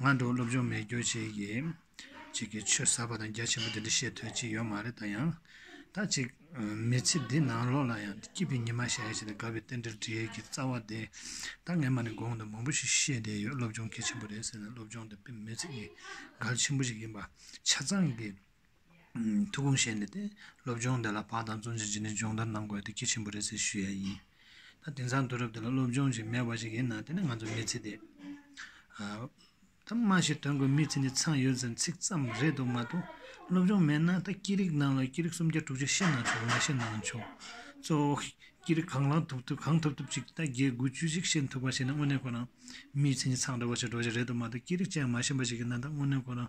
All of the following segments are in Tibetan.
ང་འགྲོ་སློབ་སྦྱོང་མེད་རྒྱུ་གཅིག་གིས་གཅིག་གིས་ཆོས་ཟབ་པ་དང་རྒྱ་ཆེན་པོ་དེ་འདྲ་བཤད་འདོད་ཅིག་ཡོད་མ་རེད་ད་ཡང་ད་ཅིག་མི་ཚེ་འདི་ནང་ལོག་ལ་ཡང་སྐྱིད་པའི་ཉི་མ་ཞལ་ཞེས་དགའ་བའི་རྟེན་འབྲེལ་འབྲེལ་གྱི་རྩ་བ་དེ་ད་ངས་མ་ནས་དགོངས་དོན་མང་པོ་ཞིག་བཤད་བསྡད་ཡོད་སློབ་སྦྱོང་གལ་ཆེན་པོ་རེད་ཟེར་ནས་སློབ་སྦྱོང་དེ་དཔེ་མི་ཚེ་གི་གལ་ཆེན་པོ་ཞིག་ཡིན་པ་ཆ་ཚང་གི་ཐུགས་དགོངས་བཞེས་ནས་སློབ་སྦྱོང་དེ་ལ་བག་དང་བཙོན་ཆེན་བྱིན་ནས་སྦྱོང་བརྡར་གནང་དགོས་དེ་ཁྱེད་ཆེན་པོ་རེད་ཟེར་ཞུས་ཡ་ཡིན། ད་དེང་སང་དུས་རབས་འདི་ལ་སློབ་སྦྱོང་ཞིག་མེད་པ་ཞིག་ཡིན་ན་དེ་ནི་ང་ཚོ་མི་ཚེ་འདི། ད་སྨྲ་ཤེས་དོན་གོ་མི་ཚེ་འདི་ཚང་ཡོད་ཟེར་ཚིག་ཙམ་རེད་འདུག་མ་གཏོགས་སློབ་སྦྱོང་མེད་ན་ད་སྐད་རིགས་ནང་ལ་སྐད་རིགས་སུམ་བརྒྱ་དྲུག་བརྒྱ་ཤེས་ན་ཆོག་མ་ཤེས་ན་ཆོག་གཙོ་བོ་སྐད་རིགས་གང་ལ་ཐུབ་ཐུབ་གང་ཐུབ་ཐུབ་ཅིག་ད་བརྒྱད་དགུ་བཅུ་གཅིག་ཤེས་ཐུབ་པ་ཞིག་ན་དངོས་གནས་ཁོ་རང་མི་ཚེ་འདི་ཚང་འདྲ་བོ་ཞིག་འགྲོ་གཞི་རེད་འདུག་མ་གཏོགས་སྐད་རིགས་ཅན་མ་ཤེས་པ་ཞིག་ཡིན་ན་ད་དངོས་གནས་ཁོ་རང།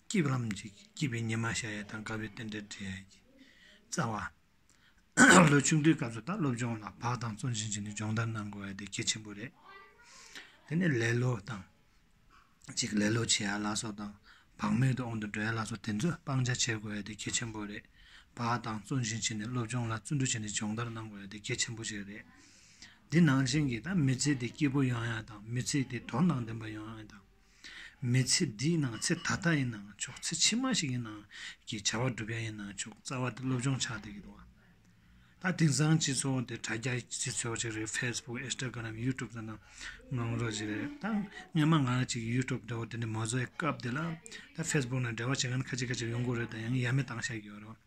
སྐྱིད་པ་ལམ་ཅིག་སྐྱིད་པའི་ཉི་མ་ཤར་ཡས་དང་དགའ་བའི་རྟེན་འབྲེལ་འབྲེལ་ཡས་ཀྱི་རྩ་བ། ལོ་ཆུང་དུས་སྐབས་སུ་ད་སློབ་སྦྱོང་ལ་བག་དང་བརྩོན་བཞིན་བྱས་ནས་སྦྱོང་བརྡར་གནང་དགོས་པ་དེ་གལ་ཆེན་པོ་རེད། དེ་ནས་ལེ་ལོ་དང། ཅིག་ལེ་ལོ་བྱེད་ཡ་ལ་སོགས་དང་བག་མེད་དུ་འོང་དུ་འགྲོ་ཡ་ལ་སོགས་དེ་ཚོ་སྤང་བྱ་བྱེད་དགོས་པ་དེ་གལ་ཆེན་པོ་རེད། བག་དང་བརྩོན་བཞིན་བྱས་ནས་སློབ་སྦྱོང་ལ་བརྩོན་འགྲུས་བྱས་ནས་སྦྱོང་བརྡར་གནང་དགོས་པ་དེ་གལ་ཆེན་པོ་ཞིག་རེད། འདི་ནང་བཞིན་གྱི་ད་མི་ཚེ་དེ་སྐྱིད་པོ་ཡོང་ཡ་དང་མི་ཚེ་དེ་དོར་སྣང་ལྡན་པ་ཡོང་ཡ་དང། མི་ཚེ་འདིའི་ནང་ཚེ་ད་ལྟ་ཡིན་ནའང་ཆོག་ཚེ་ཕྱི་མ་ཞིག་ཡིན་ནའང་གྱི་བྱ་བ་བསྒྲུབ་ཡ་ཡིན་ནའང་ཆོག་རྩ་བ་དེ་སློབ་སྦྱོང་ཆགས་དེ་ཡིན་ནོ། ད་དེང་སང་སྤྱི་ཚོགས་འདི་དྲ་རྒྱ་སྤྱི་ཚོགས་ཅིག་རེད Facebook Instagram YouTube ཙམ་ནང་ངང་རོགས་ཅིག་རེད་ད་སྔོན་མ་ང་རང་ཅིག་གིས YouTube འདྲ་བོ་དེ་འདྲ་མ་བཟོ་ཡའི་སྐབས་དེ་ལ་ད Facebook ནང་འདྲ་བ་བྱེད་མཁན་ཁ་ཅིག་ཁ་ཅིག་ཡོང་གི་རེད་ད་ཡང་ཡ་མེད་བཏང་བཞག་གི་ཡོད་རེད།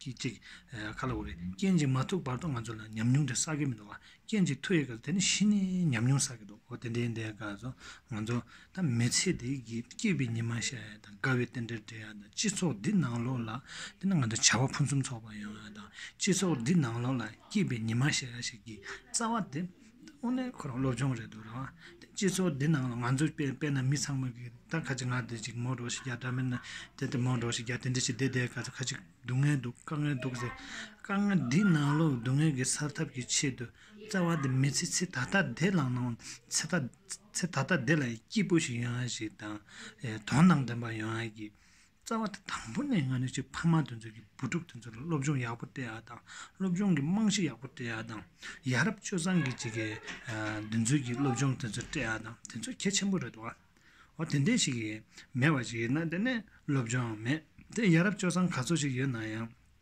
གྱིས་ཅིག། ག་ལ་འོ་རེད། སྐྱེ་འཇིག་མ་ཐུག་བར་དུ་ང་ཚོ་ལ་ཉམས་མྱོང་དེ་བསགས་ཀྱི་མི་འདུག་བ། སྐྱེ་འཇིག་ཐུག་ཡས་ཀྱི་དེ་ནི་ཤི་ནས་ཉམས་མྱོང་བསགས་ཀྱི་འདུག་གོ་དེ་འདྲའི་འདའི་སྐབས་སུ་ང་ཚོ། ད་མི་ཚེ་འདི་གི་སྐྱིད་པའི་ཉི་མ་ཤར་ཡས་དང་དགའ་བའི་རྟེན་འབྲེལ་འབྲེལ་ཡས་དང་སྤྱི་ཚོགས་འདི་ནང་ལོགས་ལ། འདི་ནི་ང་ཚོ་བྱ་བ་ཕུན་སུམ་ཚོགས་པ་ཡོང་ཡས་དང་སྤྱི་ཚོགས་འདི་ནང་ལོགས་ལ་སྐྱིད་པའི་ཉི་མ་ཤར་ཡས་ཞིག་གི་རྩ་བ་དེ། ཁོ་རང་སློབ་སྦྱོང་རེད་འདུག་རེད་བ། སྤྱི་ཚོགས་འདི་ནང་ལ་ང་ཚོ་དཔེ་ན་མི་ཚང་མ་གིས་ད་ཁ་ཅིག་ང་འདི་ཅིག་མོ་འགྲོ་ཞིག་རྒྱ་དགྲ་མེད་ན་དེ་དེ་མོ་འགྲོ་ཞིག་རྒྱ་དེ་འདི་ཞིག་དེ་དེ་ག་ཚོད་ཁ་ཅིག་སྡུག་བསྔལ་འདུག་དཀའ་ངལ་འདུག་ཟེར། དཀའ་ངལ་འདི་ནང་ལོ་སྡུག་བསྔལ་གྱི་སར་ཐབས་ཀྱི་ཆེད་དུ་རྩ་བ་འདི་མི་ཚེ་ཚེ་ད་ལྟ་འདི་ལ་ནང་ཚེ་ད་ཚེ་ད་ལྟ་འདི་ལ་སྐྱིད་པོ་ཞིག་ཡོང་ཡ་ཞིག་དང་དོན་དང་ལྡན་པ་ཡོང་ཡ་གི་རྩ་བ་དང་དང་པོ་ནས་ང་ནི་ཆེས་ཕ་མ་དེ་ཚོས་ཀྱི་བུ་ཕྲུག་དེ་ཚོ་ལ་སློབ་སྦྱོང་ཡག་པོ་སྤྲད་ཡག་དང་སློབ་སྦྱོང་གི་རྨང་གཞི་ཡག་པོ་སྤྲད་ཡག་དང་ཡ་རབས་སྤྱོད་བཟང་གི་ཅིག་གི་དེ་ཚོས་ཀྱི་སློབ་སྦྱོང་དེ་ཚོ་སྤྲད་ཡག་དང་དེ་ཚོ་གལ་ཆེན་པོ་རེད་དོ། འོ་དེ་འདྲས་ཞིག་མེད་པ་ཞིག་ཡིན་ན་དེ་ནས་སློབ་སྦྱོང་མེད་དེ་ཡ་རབས་སྤྱོད་བཟང་ག་ཚོད་ཞིག་ཡོད་ན་ཡང།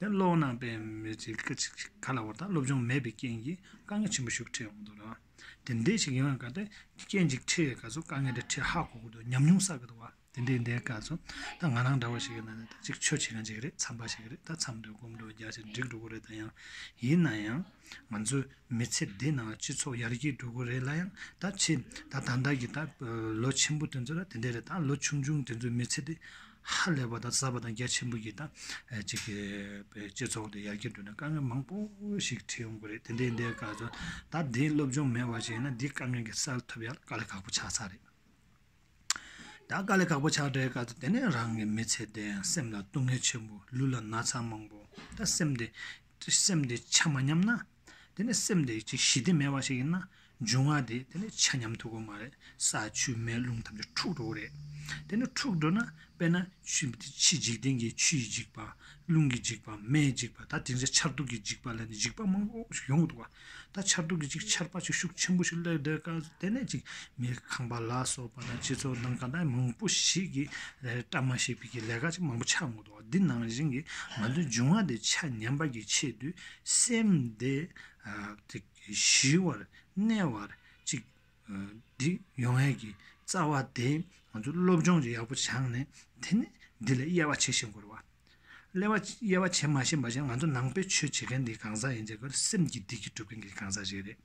དེ་ཀློག་ན་པའི་མི་ཚེ་སྐད་ཅིག་གཅིག་ག་ལ་བ་དང་སློབ་སྦྱོང་མེད་པའི་རྐྱེན་གྱིས་དཀའ་ངལ་ཆེན་པོ་ཞུགས་འཕྲད་འོང་འདུག་ལ། དེ་འདྲའི་ཞིག་ཡིན་བ་ག་དེ་རྐྱེན་གཅིག་འཕྲད་ག་ཚོད་དཀའ་ངལ་དེ་འཕྲད་ཧ་གོ་གི་འདུག་ཉམས་མྱོང་བསགས་གི་འདུག་བ། དེ་འདྲའི་འདས་ག་ཚོད་ད་ང་རང་འདྲ་བ་ཞིག་ཡིན་ན་ནི་ད་ཅིག་ཆོས་བྱེད་མཁན་ཞིག་རེད་འཚམས་པ་ཞིག་རེད་ད་འཚམས་འདོད་སྒོམ་འདོད་རྒྱ་ཆེར་འགྲིག་འགྲོ་གི་རེད་ད་ཡང། ཡིན་ན་ཡང། ང་ཚོའི་མི་ཚེ་འདི་ནང་ལ་སྤྱི་ཚོགས་ཡར་རྒྱས་འགྲོ་གི་རེད་ལ་ཡང་ད་ཕྱིན་ད་ད་ལྟ་གི་ད་ལོ་ཆེན་པོ་དེ་ཚོ་ལ་དེ་འདྲ་རེད་ད་ལོ་ཆུང་ཆུང་དེ་ཚོའི་མི་ཚེ་འདི། ཧ་ལས་པ་དང་ཟབ་པ་དང་རྒྱ་ཆེན་པོ་ཡིན་ན་གཅིག་གི་སྤྱི་ཚོགས་འདི་ཡར་རྒྱས་འགྲོ་ན་དཀའ་ངལ་མང་པོ་ཞིག་འཕྲད་ཡོང་གི་རེད་དེ་འདྲའི་འདའི་སྐར་ཚོགས་ད་ལྟའི་སློབ་སྦྱོང་མེད་བ་ཞིག་ཡིན་ན་འདི་སྐབས་ཉིན་གྱི་སར་ཐོབ་ཡག་དཀའ་ལས་ཁག་པོ་ཆགས་ཚར་རེད་ད་དཀའ་ལས་ཁག་པོ་ཆགས་འདྲའི་སྐར་ཚོགས་དེ་ནས་རང་གི་མི་ཚེ་འདི་སེམས་ལ་སྡུག་བསྔལ་ཆེན་པོ་ལུས་ལ་ན་ཚ་མང་པོ་ད་སེམས་འདི་སེམས་འདི་ཆ་མ་ཉམས་ན་དེ་ནི་སེམས་དེ་ཅིག་གཞི་སྟེ་མེད་པ་ཞིག་ཡིན་ན་འབྱུང་བ་དེ་དེ་ནི་ཆ་མཉམ་དུ་གོ་མ་རེད་ས་ཆུ་མེ་རླུང་ཐམས་ཅད་འཁྲུགས་འགྲོ་གི་རེད་དེ་ནི་འཁྲུགས་འགྲོ་ན་དཔེར་ན་ཆུ་འདི་འཇིག་རྟེན་གྱི་ཆུ་ཡིས་འཇིག་པ་རླུང་གིས་འཇིག་པ་མེས་འཇིག་པ་ད་དེ་འདྲའི་ཆར་གདུགས་ཀྱིས་འཇིག་པ་ལས་ནི་འཇིག་པ་མང་པོ་ཞིག་ཡོང་གི་འདུག་ད་ཆར་གདུགས་ཀྱིས་ཅིག་ཆར་པ་ཅིག་ཤུགས་ཆེན་པོ་ཞིག་བསླེབས་འདོད་ཀ་དེ་ནས་ཅིག་མི་ཁང་པ་ལ་སོགས་པ་དང་སྤྱི་ཚོགས་ནང་ཀ་ད་མང་པོ་ཞིག་གིས་བཀྲ་མ་ཤིས་པའི་ལས་ཀ་ཅིག་མང་པོ་ཆགས་འགོ་འདུག། འདི་ནང་བཞིན་གྱི་ང་ཚོའི་འབྱུང་བ་དེ་ཆ་ཉམས་པ་ཀྱི་ཆེད་དུ་སེམས་དེ་ཞི་བར་གནས་བར་ཅིག་འདི་ཡོང་ངེས་ཀྱི་རྩ་བ་དེ་ང་ཚོ་སློབ་སྦྱོང་ཡག་པོ་བྱང་ནས་དེ་ནས་འདི་ལས་དབྱེ་བ་ཕྱེ་ཤེས་དགོས་རེད། ལས་བ་དབྱེ་བ་ཕྱེ་མ་ཤེས་པ་བཞིན་ང་ཚོ་ནང་པའི་ཆོས་བྱེད་མཁན་དེ་གང་ཟག་ཡིན་ཚེ་གལ་སྲིད་སེམས་ཀྱི་བདེ་སྐྱིད་སྒྲུབ་མཁན་གྱི་གང་ཟག་ཞིག་རེད།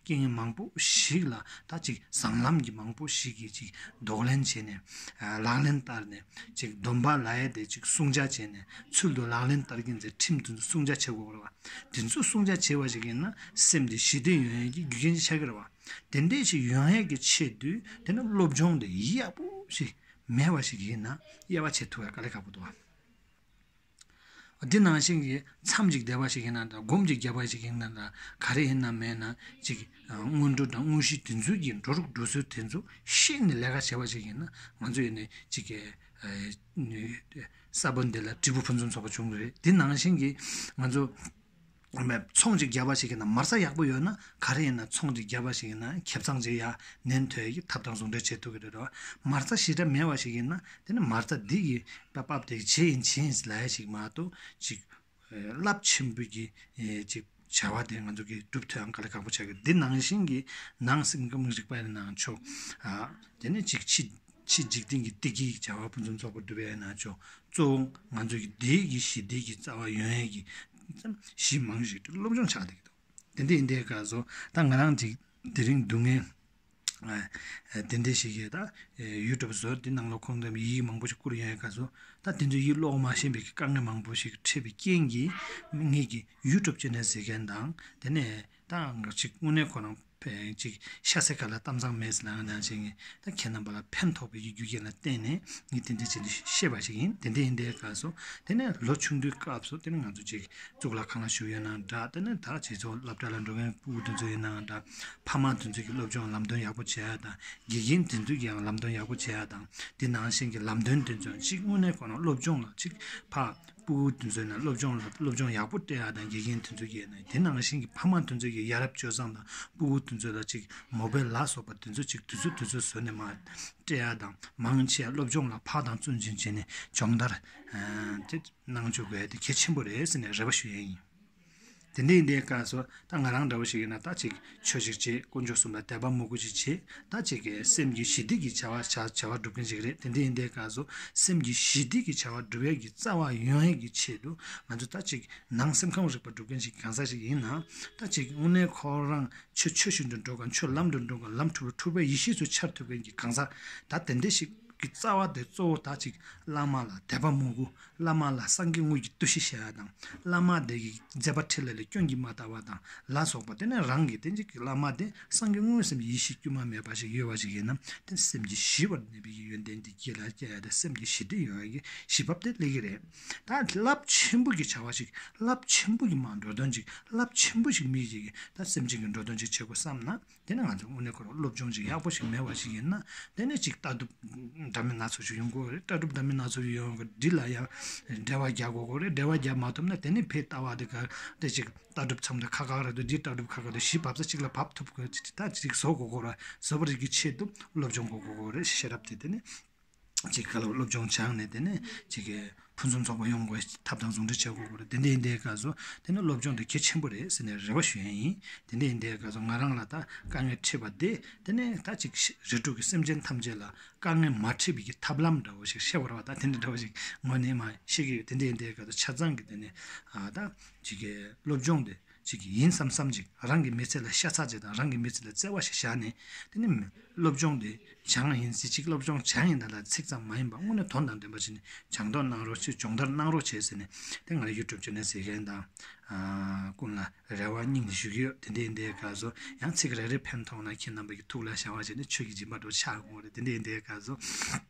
རྐྱེན་ངན་མང་པོ་ཞིག་ལ་ད་ཅིག་བཟང་ལམ་གྱི་མང་པོ་ཞིག་གིས་ཅིག་ལྡོག་ལན་བྱས་ནས། ལག་ལེན་བསྟར་ནས་ཅིག་སྡོམ་པ་ལ་ཡས་དེ་ཅིག་སྲུང་བྱ་བྱས་ནས་ཚུལ་དུ་ལག་ལེན་བསྟར་གྱིན་ཚེ་ཁྲིམས་དེ་ཚོ་སྲུང་བྱ་བྱེད་དགོས་རེད་བ། དེ་ཚོ་སྲུང་བྱ་བྱེད་པ་ཞིག་ཡིན་ན་སེམས་དེ་ཞི་བདེ་ཡོང་ཡས་ཀྱི་རྒྱུ་རྐྱེན་གྱི་ཆ་གི་རེད་བ། དེ་འད་ཅིག་ཡོང་ཡས་ཀྱི་ཆེད་དུ་དེ་ནི་སློབ་སྦྱོང་དེ་ཡག་པོ་ཞིག་མེད་བ་ཞིག་ཡིན་ན་དབྱེ་བ་ཕྱེ་ཐུབ་ཡས་དཀའ་ལས་ཁག་པོ་འདུག་བ། འདི་ནང་བཞིན་གྱི་མཚམས་ཅིག་བདེ་བ་ཞིག་ཡིན་ན་དང་སྒོམ་ཅིག་རྒྱལ་བ་ཞིག་ཡིན་ན་དང་ག་རེ་ཡིན་ནམ་མེད་ན་ཅིག་སྔོན་འགྲོ་དང་དངོས་གཞི་དེ་ཚོའི་ཀྱི་འགྲོ་ལུགས་འགྲོ་སྲོལ་དེ་ཚོ་ཤེས་ནས་ལས་ཀ་བྱེད་པ་ཞིག་ཡིན་ན་ང་ཚོ་ཡིན་ནས་ཅིག་གསར་བུ་འདི་ལ་དྲིལ་བུ་ཕུན་སུམ་ཚོགས་པ་བྱུང་གི་རེད་འདི་ནང་བཞིན་གྱི་ང་ཚོ་ངོ་མས་ཚོང་ཅིག་རྒྱབ་པ་ཞིག་གི་ནང་མར་ས་ཡག་པོ་ཡོད་ན་ག་རེ་ཡིན་ན་ཚོང་ཅིག་རྒྱབ་པ་ཞིག་གི་ནང་ཁེབས་ཚང་ཅིག་ཡ་ནན་ཐོས་ཀྱི་ཐབས་དང་ཟུང་འབྲེལ་བྱེད་ཐུབ་ཀྱི་རེད་དོ། མར་ས་ཞི་དྲག་མེད་པ་ཞིག་ཡིན་ན་དེ་ནི་མར་ས་སྡིག་གི་པ་པབ་དེ་བྱེད་ཡིན་བྱེད་ཡིན་ལ་ཡ་ཞིག་མ་གཏོགས་ཅིག། རླབས་ཆེན་པོ་ཀྱི་ཅིག་བྱ་བ་དེ་ང་ཚོ་གིས་གྲུབ་ཐོས་ཨང་ག་ལ་ཁག་པོ་ཆགས་ཀྱི་འདི་ནང་བཞིན་གྱི་ནང་སེམས་ཀྱི་མིག་རིག་པ་ནང་ཆོག་ཨ། དེ་ནི་ཅིག་ཕྱི། ཕྱིས་འཇིག་རྟེན་གྱི་བདེ་སྐྱིད་ཀྱི་བྱ་བ་ཕུན་སུམ་ཚོགས་པར་བསྡུ་བས་ན་ཆོས་གཙོ་བོ་ང་ཚོས་ཀྱི་བདེ་སྐྱིད་ཞི་བདེ་ཀྱི་རྩ་བ་ཡོན་ཡལ་གྱི་གཞི་མང་ཞིག་ཏུ་སློབ་སྦྱོང་བྱ་བདེ་གི་འདུག་དེ་འདི་འདྲའི་སྐབས་སུ་ད་ང་རང་འདི་རིང་སྡུག་བསྔལ་དེ་འདྲ་ཞིག་གིས་ད་ཡུལ་གྲུབ་བཟོ་དེ་ནང་ལོག་ཁོམ་གང་ཡིད་མང་པོ་ཞིག་བསྐུར་ཡོན་ཡལ་སྐབས་སུ་ད་དེ་ཚོའི་ཡིད་ཀློག་མ་ཤེས་པའི་དཀའ་ངལ་མང་པོ་ཞིག་འཕྲད་པའི་རྐྱེན་གྱིས་ངེད་ཀྱིས་ཡུལ་གྲུབ་ཅེས་ནས་ཟེར་མཁན་དང་དེ་ནས་ད་ཅིག་དངོས་གནས་ཁོ་རང་གཅིག། ཤ་སའི་ཁ་ལ་གཏམ་ཚང་མེད་ཟེར་ལ་ང་ནང་བྱེད་ངེས་ད་ཁྱེད་རྣམ་པ་ལ་ཕན་ཐོགས་པའི་རྒྱུ་རྐྱེན་ལ་བརྟེན་ནས་ངས་དེ་འདྲའི་བྱེད་འདི་ཤེས་པ་ཞིག་ཡིན་དེ་འདྲ་ཡིན་དེ་ག་སོང་དེ་ནས་ལོ་ཆུང་དུས་སྐབས་སུ་དེ་ནས་ང་ཚོ་ཅིག་གཙུག་ལག་ཁང་ལ་ཞུགས་ཡོད་ནའང་འདྲ་དེ་ནས་ད་ཁྱེད་ཚོ་སློབ་གྲྭ་ལ་འགྲོ་མཁན་སྤུན་དེ་ཚོ་ཡིན་ནའང་འདྲ་ཕ་མ་དེ་ཚོས་ཀྱི་སློབ་སྦྱོང་ལམ་སྟོན་ཡག་པོ་བྱས་ཡ་དང་དགེ་རྒན་དེ་ཚོས་ཀྱིའང་ལམ་སྟོན་ཡག་པོ་བྱས་ཡ་དང་དེ་ནང་བཞིན་གྱི་ལམ་སྟོན་དེ་ཚོས་ཅིག་དངོས་གནས་གོ་ན་སློབ་སྦྱོང་ལ་ཅིག་ཕ་སྤུ་གུ་དེ་ཚོས་ནི་སློབ་སྦྱོང་ལ་སློབ་སྦྱོང་ཡག་པོ་སྤྲད་ཡ་དང་དགེ་རྒན་དེ་ཚོས་ཀྱིས་ནི་དེ་ནང་བཞིན་གྱི་ཕ་མ་དེ་ཚོས་ཀྱིས་ཡ་རབས་སྤྱོད་བཟང་དང་སྤུ་གུ་དེ་ཚོ་ལ་ཅིག་མོ་པའི་ལག་སོགས་པ་དེ་ཚོ་ཅིག་དུས་ཚོད་དུས་ཚོད་བཟོས་ནས་མ་སྤྲད་ཡ་དང་མང་ཆེ་སློབ་སྦྱོང་ལ་ཕག་དང་བཙོན་བྱིན་བྱས་ནས་སྦྱོང་བརྡར་གནང་བཅུག་དགོས་དེ་གལ་ཆེན་པོ་རེད་ཟེར་ནས་རེ་བ་ཞུ་ཡས་ཡིན། དེ་འདྲའི་འདའི་སྐབས་སུ་ད་ང་རང་འདྲ་བོ་ཞིག་ཡིན་ན་ད་ཅིག་ཆོས་ཤིག་བྱེད་དཀོན་མཆོག་གསུམ་ལ་དད་པ་མོ་གུ་ཅིག་བྱེད་ད་ཅིག་སེམས་ཀྱི་ཞི་བདེ་གི་བྱ་བ་བྱ་བྱ་བ་སྒྲུབ་མཁན་ཞིག་རེད་དེ་འདྲའི་འདའི་སྐབས་སུ་སེམས་ཀྱི་ཞི་བདེ་གི་བྱ་བ་སྒྲུབ་ཡས་ཀྱི་རྩ་བ་ཡོན་ཡས་ཀྱི་ཆེད་དུ་ང་ཚོ་ད་ཅིག་ནང་སེམས་ཁམས་རིག་པ་སྒྲུབ་མཁན་ཞིག་གང་ཟག་ཞིག་ཡིན་ན་ད་ཅིག་དངོས་གནས་ཁོ་རང་ཆོས་ཆོས་བཞིན་དུ་འགྲོ་གང་ཆོས་ལམ་དུ་འགྲོ་གང་ལམ་འཁྲུག་ལ་འཁྲུག་པའི་ཡེ་ཤེས་སུ་འཆར་ཐུབ་མཁན་གྱི་གང་ཟག་ད་དེ་འདྲ་ཞིག་གི་རྩ་བ་དེ་གཙོ་བོ་ད་ཅིག་བླ་མ་ལ་དད་པ་མོ་གུ་བླ་མ་ལ་སངས་རྒྱས་དངོས་ཀྱི་བསྟོད་གཞི་བྱ་བ་དང། བླ་མ་དེ་གི་མཛད་པ་ཁྲི་ལ་ལས་སྐྱོན་གྱིས་མ་དག་པ་དང་ལ་སོགས་པ་དེ་ནི་རང་གི་སྟེ་འཇིགས་ཀྱི་བླ་མ་དེ་སངས་རྒྱས་དངོས་སེམས་ཡེ་ཤེས་དཀྱུས་མ་མེད་པ་ཞིག་ཡོད་པ་ཞིག་ཡིན་ན་དེ་སེམས་ཀྱི་ཞི་བར་གནས་པའི་ཡོན་ཏན་དེ་རྒྱས་ལ་སྐྱེ་བ་དེ་སེམས་ཀྱི་ཞི་བདེ་ཡོང་བའི་གི་གཞི་བབ་དེ་སླེ་གི་རེད། ད་རླབས་ཆེན་པོ་གི་བྱ་བ་ཞིག་རླབས་ཆེན་པོ་གི་མ་འགྲོ་དོན་ཅིག་རླབས་ཆེན་པོ་ཞིག་མི་བྱེད་གི་ད་སེམས་ཅན་གི་འགྲོ་དོན་ཅིག་བྱེད་དགོས་བསམ་ན་དེ་ནི་ང་ཚོའི་དངོས་གནས་སྐོར་བ་སློབ་སྦྱོང་ཅིག་ཡག་པོ་ཞིག་མེད་བ་ཞིག་ཡིན་ན་དེ་ནི་ཅིག་ལྟ་གྲུབ་འདྲ་མིན་སྣ་ཚོགས་ཤིག་ཡོང་དགོས་ལྟ་གྲུབ་འདྲ་མིན་སྣ་ཚོགས་ཡོང་གི་འདི་ལ་ཡང་འབྲེལ་བ་རྒྱག་དགོས་དགོས་རེད་འབྲེལ་བ་རྒྱག་མ་ཐུབ་ན་དེ་ནི་ཕའི་ལྟ་བ་དེ་ག་དེ་ཅིག་ལྟ་གྲུབ་ཚང་མ་ཁ་ཁ་ར་དུ་འདིའི་ལྟ་གྲུབ་ཁ་ཁ་དུ་གཞི་བབས་ས་གཅིག་ལ་བབས་ཐུབ་དགོས་ད་ཅིག་བཟོ་དགོས་དགོས་ར་བཟོ་བ་རིགས་ཀྱི་ཆེད་དུ་སློབ་སྦྱོང་གོ་དགོས་དགོས་རེད་ཤེས་རབ་དེ་དེ་ནི་ཅིག་གི་སློབ་སྦྱོང་སྦྱངས་ནས་དེ་ནས་ཅིག་གི་ཕུན་སུམ་ཚོགས་པ་ཡོང་བའི་ཐབས་དང་ཟུང་འབྲེལ་བྱེད་དགོས་པ་རེད་དེ་འདྲའི་འདའི་སྐབས་སུ་དེ་ནི་སློབ་སྦྱོང་དེ་གལ་ཆེན་པོ་རེད་ཟེར་ནས་རེ་བ་ཞུ་ཡས་ཡིན་དེ་འདྲའི་འདའི་སྐབས་སུ་ང་རང་ལ་ད་དཀའ་ངལ་འཕྲད་པ་འདི་དེ་ནས་ད་ཅིག་རེ་དྲུག་གི་སེམས་ཅན་ཐམས་ཅད་ལ་དཀའ་ངལ་མ་འཕྲད་པའི་གི་ཐབས་ལམ་འདྲ་བོ་ཞིག་ཤེས་པར་བ་ད་དེ་འདྲ་འདྲ་བོ་ཞིག་ངོ་ནས་མ་ཤེས་གི་ཡོད་དེ་འདྲའི་འདའི་སྐབས་སུ་ཆ་ཚང་གི་དེ་ནས་ད་ཅིག་གི་སློབ་སྦྱོང་དེ་ཅིག་གི་ཡིན་བསམ་བསམ་ཅིག་རང་གི་མི་ཚེ་ལ་ཤ་ཚ་ཅིག་དང་རང་གི་མི་ཚེ་ལ་བརྩེ་བ་ཞིག་བཞག་ནས་དེ་ནི་སློབ་སྦྱོང་དེ་བྱང་ཡིན་ཟེར་ཅིག་སློབ་སྦྱོང་བྱང་ཡིན་ད་ལ་ཚིག་ཙམ་མ་ཡིན་པར་དངོས་ནས་དོན་དང་ལྡན་པ་བྱས་ནས་སྦྱང་མདོག་གནང་རོགས་ཅིག་སྦྱོང་བརྡར་གནང་རོགས་བྱས་ཟེར་ནས་དེ་ང་རང YouTube Channel ཟེར་མཁན་དང། ཀུན་ལ་རེ་བ་སྙིང་ནས་ཞུ་གི་ཡོད་དེ་འདྲའི་འདའི་སྐབས་སུ་ཡང་ཚིག་རེ་རེ་ཕན་ཐོགས་ན་ཁྱེད་རྣམ་པ་ཀྱི་ཐུགས་ལ་བཞག་བ་བྱས་ནས་ཆོས་ཀྱི་སྦྱིན་པ་འགྲོ་འཆག་གོ་རེ་དེ་འདྲའི་འདའི་སྐབས་སུ།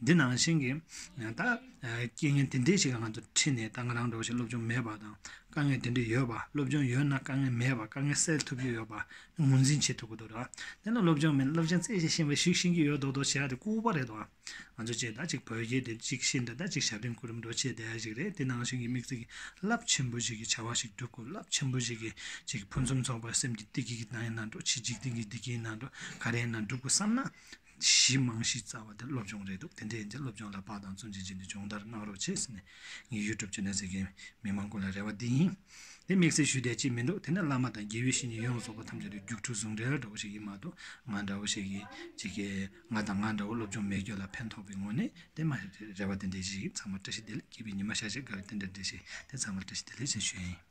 འདི་ནང་བཞིན་གྱི་ད་རྐྱེན་ངན་དེ་འདྲས་ཞིག་ང་ཚོ་ཁྲིད་ནས་ད་ང་རང་འགྲོ་བཞིན་སློབ་སྦྱོང་མེད་པ་དང་དཀའ་ངལ་དེ་འདྲས་ཡོད་པ་སློབ་སྦྱོང་ཡོད་ན་དཀའ་ངལ་མེད་པ་དཀའ་ངལ་སེལ་ཐུབ་རྒྱུ་ཡོད་པ་ངོས་འཛིན་བྱེད་ཐུབ་ཀྱི་འདུག་ད་དེ་ན་སློབ་སྦྱོང་མེད་ན་སློབ་སྦྱོང་རྩེད་ཆས་ཤིང་བའི་ཞིག་བཞིན་གྱི་ཡོད་མདོག་མདོག་བྱས་ཏེ་སྐུར་བ་རེད་དོ་ང་ཚོ་བཅས་ད་ཅིག་བོད་རྒྱལ་དེ་ཅིག་ཤེས་འདོད་ད་ཅིག་ཞབས་འདྲེན་ཁུར་འགྲོ་བྱེད་བསྡད་ཞིག་རེད་དེ་ནང་བཞིན་གྱི་དམིགས་ཚིག་རླབས་ཆེན་པོ་ཞིག་གི་བྱ་བ་ཞིག་སྒྲུབ་དགོས་རླབས་ཆེན་པོ་ཞིག་གི་ཅིག་ཕུན་སུམ་ཚོགས་པ་སེམས་ཀྱི་བདེ་སྐྱིད་ཀྱི་ནང་ཡང་ན་འགྲོ་བྱེད་འཇིག་རྟེན་གྱི་བདེ་སྐྱིད་ནང་འགྲོ་ག་རེའི་ནང་སྒྲུབ་དགོས་བསམ་ན་གཞི་རྨང་གཞི་རྩ་བ་དེ་སློབ་སྦྱོང་རེད་འདུག་དེ་འདྲའི་ཡིན་ཚེ་སློབ་སྦྱོང་ལ་དཔག་དང་བཙོན་འཇལ་བྱས་ནས་སྦྱོང་བརྡར་གནང་རོགས་བྱས་ཟེར་ནས་ངས་ཡུལ་གྲུབ་ཆུ་སྣོད་ཟེར་མཁན་མི་མང་ཀུན་ལ་རེ་བ་འདི་ཡིན། དེ་དམིགས་བསལ་ཞུ་བསྡད་ཅིག་མི་འདུག་དེ་ནི་བླ་མ་དང་དགེ་བའི་བཤེས་གཉེན་ཡོངས་རྫོགས་པ་ཐམས་ཅད་ལ་རྒྱུགས་འཕྲོད་ཟུང་འབྲེལ་འདྲ་བོ་ཞིག་ཡིན་མ་གཏོགས་ང་འདྲ་བོ་ཞིག་གིས་ཅི་གི་ང་དང་ང་འདྲ་བོ་སློབ་སྦྱོང་མེད་ཁྱོད་ལ་ཕན་ཐོགས་པའི་ངོ་ནས་དེ་མ་རེད་རེ་བ་དེ་འདྲའི་ཞིག་ཡིན་ཚང་མར་བཀྲ་ཤིས་བདེ་ལེགས་སྐྱིད་པའི་ཉི་མ་ཤར་ཕྱིར་དགའ་བའི་རྟེན་འབྲེལ་འདྲ་ཞིག་དེ་ཚང་མར་བཀྲ་ཤིས་བདེ་ལེགས་ཞེས་ཞུ་ཡི་ཡིན།